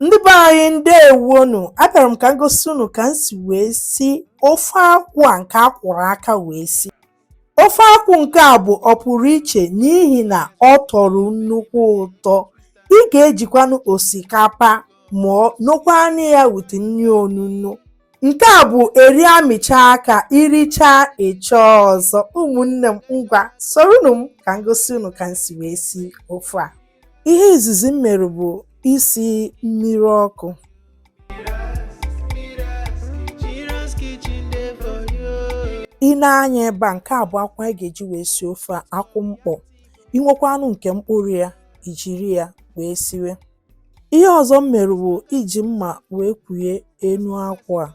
ndị be anyị ndewonu abịara m ka m gosi unu ka m si wee si ofe akwụ a nke a kwụrụ aka wee si ofe akwụ nke a bụ ọpụrụ iche n'ihi na ọ tọrọ nnukwu ụtọ ị ga-ejikwanụ osikapa ma nokwanụ ya with nri onunu nke a bụ eri amịcha aka i richaa ị chọọ ọzọ ụmụnne m ngwa soronu m ka m gosi unu ka m si wee si ofe a Ihe izizi m mere bụ isi mmiri ọkụ. I nee anya ebe a, nke a bụ akwụ anyị ga-eji wee sie ofe a, akwụ mkpọ. I nwekwanụ nke mkpụrụ ya, i jiri ya wee siwe. Ihe ọzọ m mere bụ iji mma wee kwuye enu akwụ a.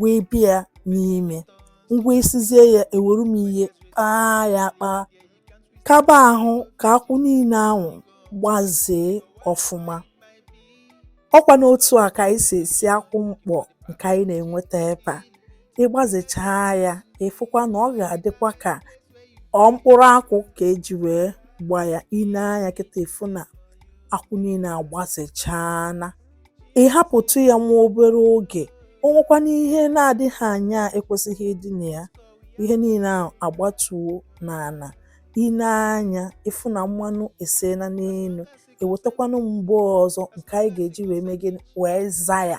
wee bịa n'ime ngwa esizie ya ewere m ihe kpaa ya kpaa kaba ahụ ka akwụ niile ahụ gbazee ọfụma ọ kwa n'otu a ka anyị si esi akwụ mkpọ nke anyị na-enweta ebe a ị gbazechaa ya ị fụkwa na ọ ga-adịkwa ka ọ mkpụrụ akwụ ka e ji wee gbaa ya i nee anya kịta ị fụ na akwụ niile agbazechaana ị hapụtụ ya nwa obere oge o nwekwanụ ihe na-adịghị anya ekwesịghị ịdị na ya ihe niile ahụ agbatuo n'ana i nee anya ị fụ na mmanụ eseena n'enu ewetakwanụ m bowl ọzọ nke anyị ga-eji wee mee gịnị wee zaa ya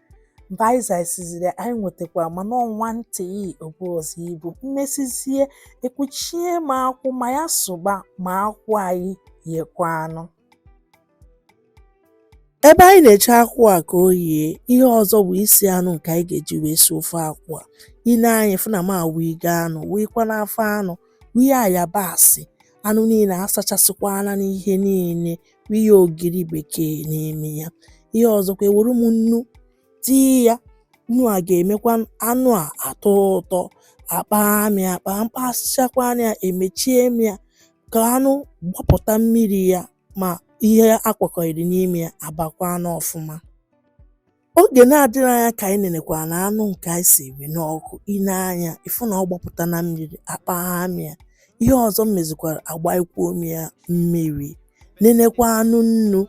mgbe anyị zaisiziri anyị nwetakwara mana ọ nwantị o bu ọzọ ibu m mesizie ekwuchie m akwụ ma ya sụba ma akwụ anyị yekwanụ ebe anyị na-eche akwụ a ka o yie ihe ọzọ bụ isi anụ nke anyị ga-eji wee si ofe akwụ a i nee anya ị fụ na m awụigo anụ wụikwanụ afọ anụ wụnye ayabasị anụ niile asachasịkwana m ihe niile ihe ogiri bekee n'ime ya ihe ọzọkwa ewere m nnu tii ya nnu a ga-emekwa anụ a atọ ụtọ akpaa m ya akpaa m kpasịchakwanụ ya emechie m ya ka anụ gbapụta mmiri ya ma ihe a kwakọịrị n'ime ya abakwa anụ ọfụma Oge na-adịghị anya ka anyị nenekwanụ anụ nke anyị siri n'ọkụ, i nee anya ị fụ na ọ gbapụtana mmiri, akpagha m ya. Ihe ọzọ m mezikwara agbaikwuo m ya mmiri, nenekwanụ nnu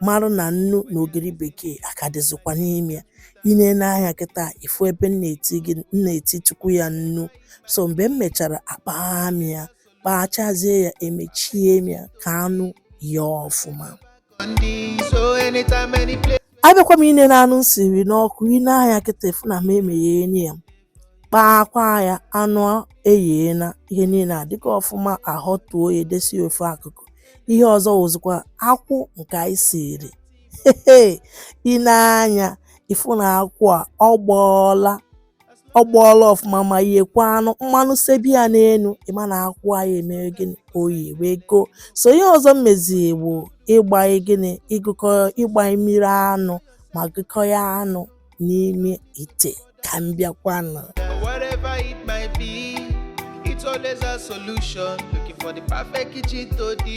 marụ na nnu na ogiri bekee aka dịzịkwa n'ime ya. I nee anya kịta ị fụ ebe m na-etitụkwu ya nnu. So mgbe m mechara akpagha m ya, kpaghachazie ya emechie m ya ka anụ yee ọfụma. abịakwa m inene anụ m siri n'ọkụ ine anya kịta ịfụ na m emegheni ya kpaakwa ya anụ eyiena ihe niile adịka ọfụma ahọtuo ya edesi ofe akụkụ ihe ọzọ wụzikwa akwụ nke anyị siri ine anya ịfụ na akwụ a ọ gbọọla ọ gbọọla ọfụma ma yiekwa anụ mmanụ sebi ya n'elu ịma na akwụ anyị emere gịnị oyi wee go so ihe ọzọ m meziri bụ ịgbanye gịnị ịgụkọ ịgbanye mmiri anụ ma gụkọ ya anụ n'ime ite ka m bịakwanụ Whatever it might be, it's always a solution. Looking for the perfect kitchen to the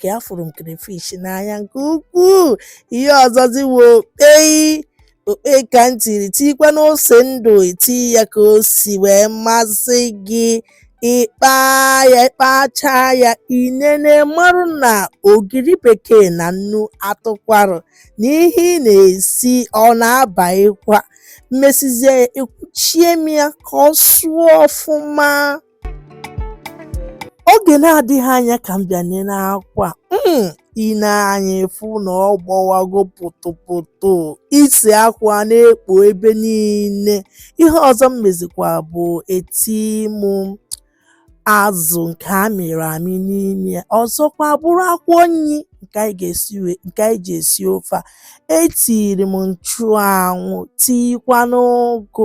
ka afụrụ m crayfish n'anya nke ukwuu ihe ọzọzi wụ okpei okpei ka m tiri tikwanụ ose ndụ eti ya ka o si wee masị gị ịkpa ya ịkpacha ya inene marụ na ogiri bekee na nnu atụkwarụ n'ihe ị na-esi ọ na-abaghịkwa m mesizie ekwuchie m ya ka ọ sụọ ọfụma oge na-adịghị anya ka m bịa nene akwụ a hmm, ine anya ịfụ na ọ gbọwago pụtụpụtụ isi akwụ a na-ekpo ebe niile ihe ọzọ m mezikwa bụ eti m azụ nke a mịrị amị n'ime ya ọzọkwa bụrụ akwụkwọ nri nke anyị ji esi ofe a etiri m nchụanwụ tiikwanụ ụgụ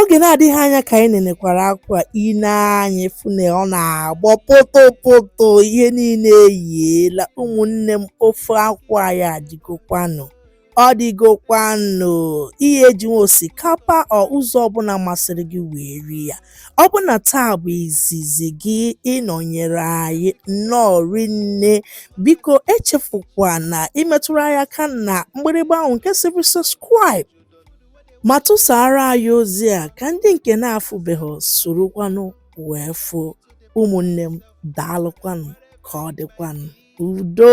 oge na-adịghị anya ka anyị nenekwara akwụ a ine anya ịfụ na ọ na-agbọ pụtụpụtụ ihe niile eyiela ụmụnne m ofe akwụ anyị adịgokwanụ ọ dịgokwanụ ihe eji nwe osikapa or ụzọ ọbụla masịrị gị wee rie ya Ọ bụ na taa bụ izizi gị ịnọnyere anyị nnọọ rinne biko echefukwana imetụrụ anyị aka na mgbịrịgba ahụ nke sịrị subscribe ma tụsara anyị ozi a ka ndị nke na-afụbeghị sorokwanụ wee fụ ụmụnne m daalụkwanụ ka ọ dịkwanụ udo